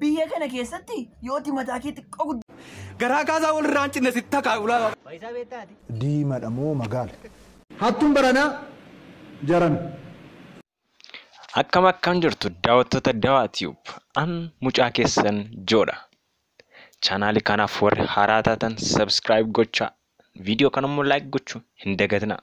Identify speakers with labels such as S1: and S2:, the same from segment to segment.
S1: Biyya kana keessatti yooti mataa kee xiqqoo guddaa. Garaa kaasaa
S2: wal irraa hin cinne sitti takaa ulaa. Faayisaa beektaati.
S3: Diimadha moo
S4: magaala? Hattuun baranaa jaran.
S5: Akkam akkam jirtu daawwattoota Dawaa Tube. An mucaa keessan Joodha. Chaanaali kanaaf warri haaraa taatan subscribe gochaa. Viidiyoo kanammoo like gochuu hin dagatinaa.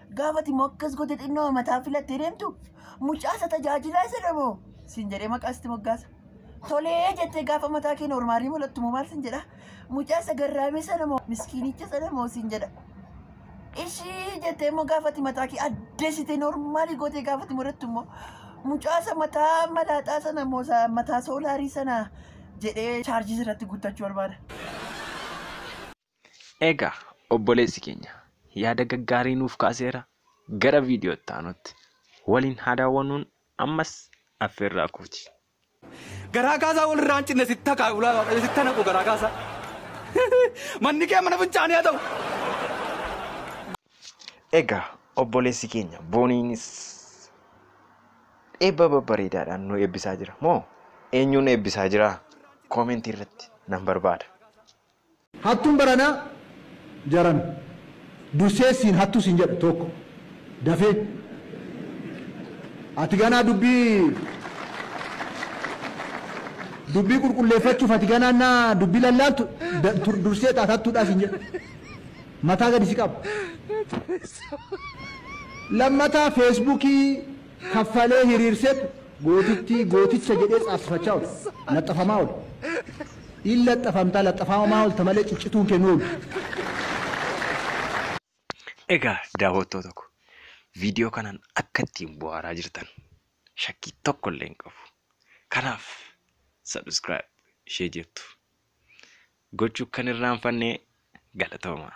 S1: Gaafati immoo akkas gote xinnoo mataa filattee deemtu mucaasa tajaajilaa isa dhamoo siin jedhee maqaa sitti moggaasa. Tolee jettee gaafa mataa kee noormaalii mul'attu moo maal siin jedha mucaasa garraamee sana moo miskiinicha sana moo siin jedha. Ishii jettee immoo gaafati mataa kee addeessitee noormaalii gootee gaafati murattu immoo mucaasa mataa malaaxaa sana moo sa- mataa soolaarii sana jedhee chaarjii irratti guuttachuu barbaada.
S5: Egaa obboleessi keenya yaada gaggaarii nuuf kaaseera gara viidiyoo itti aanutti waliin haa daawwannuun ammas affeerraa kooti. Garaa
S2: kaasaa walirraa hin cinne sitta kaa ulaa waaqayyo sitta naqu garaa kaasaa. Manni kee mana fincaanii haa ta'u.
S5: Egaa obboleessi keenya booniinis eebba babbareedaadhaan nu eebbisaa jira moo eenyuun eebbisaa jira koomentii irratti nan barbaada.
S4: Hattuun baranaa jaran dursee siin hattuu siin jedha tokko dafee ati ganaa dubbii dubbii qulqulleeffachuuf ati ganaa naa dubbii lallaaltu dursee taat hattuudhaa siin jedha mataa gadi si qaba lammataa feesbuukii kaffalee hiriirseet gootittii, gooticha jedhee caabsifachaa oole, laxxafamaa oole. In laxxafamta, laxxafaamamaa oolta malee ciccituun kee hin oolu.
S5: Egaa daawwattoota ko, viidiyoo kanaan akka ittiin buhaaraa jirtan shakkii tokko illee hin qabu. Kanaaf subscribe ishee jettu gochuu akka hin irraanfanne galatoomaa.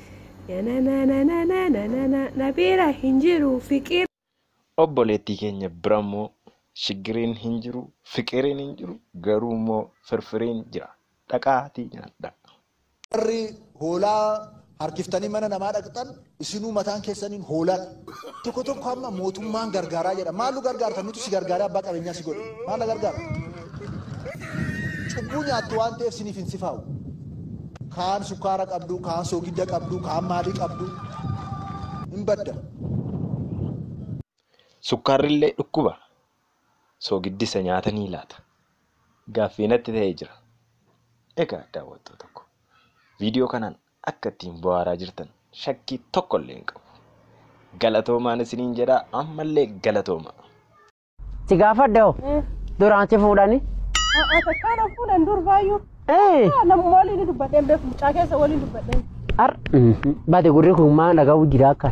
S6: Nananananananana na bira hin jiru fiqir. Obboleettii
S5: keenya bira immoo shiggiriin hin jiru, fiqiriin hin jiru, garuu immoo firfiriin jira. Dhaqaatii nyaadhaa. Warri
S4: hoolaa harkiftanii mana namaa dhaqxan, isinuu mataan keessaniin hoolaa dha. Tokko tokko amma mootummaan gargaaraa jedha. Maal nu gargaarta? Nutu si gargaaree abbaa qabeenyaa si godhe. Maal na gargaarta? Cubbuu nyaattu waan ta'eef siniif hin sifaa'u. Kaan sukkaara qabdu, kaan soogidda qabdu, kaan maalii qabdu. Hin badda.
S5: Sukkaarrillee dhukkuba. Soogiddisa nyaata ni laata. Gaaffii natti ta'ee jira. Egaa daawwattoota koo viidiyoo kanaan akka ittiin bu'aaraa jirtan shakkii tokko illee hin qabu. Galatoomaan isiniin jedhaa ammallee galatoomaa.
S7: Si gaafadhe hoo Eh, duraan si fuudhani? a- a- takkaa na
S6: fuudhan dur baay'uu. Ee Ah, Namuma waliin ni dubbadheen beeku mucaa keessa
S7: waliin dubbadheen. har
S6: bade
S7: gurri kun
S6: maa
S7: dhaga'u
S6: jira
S7: akka.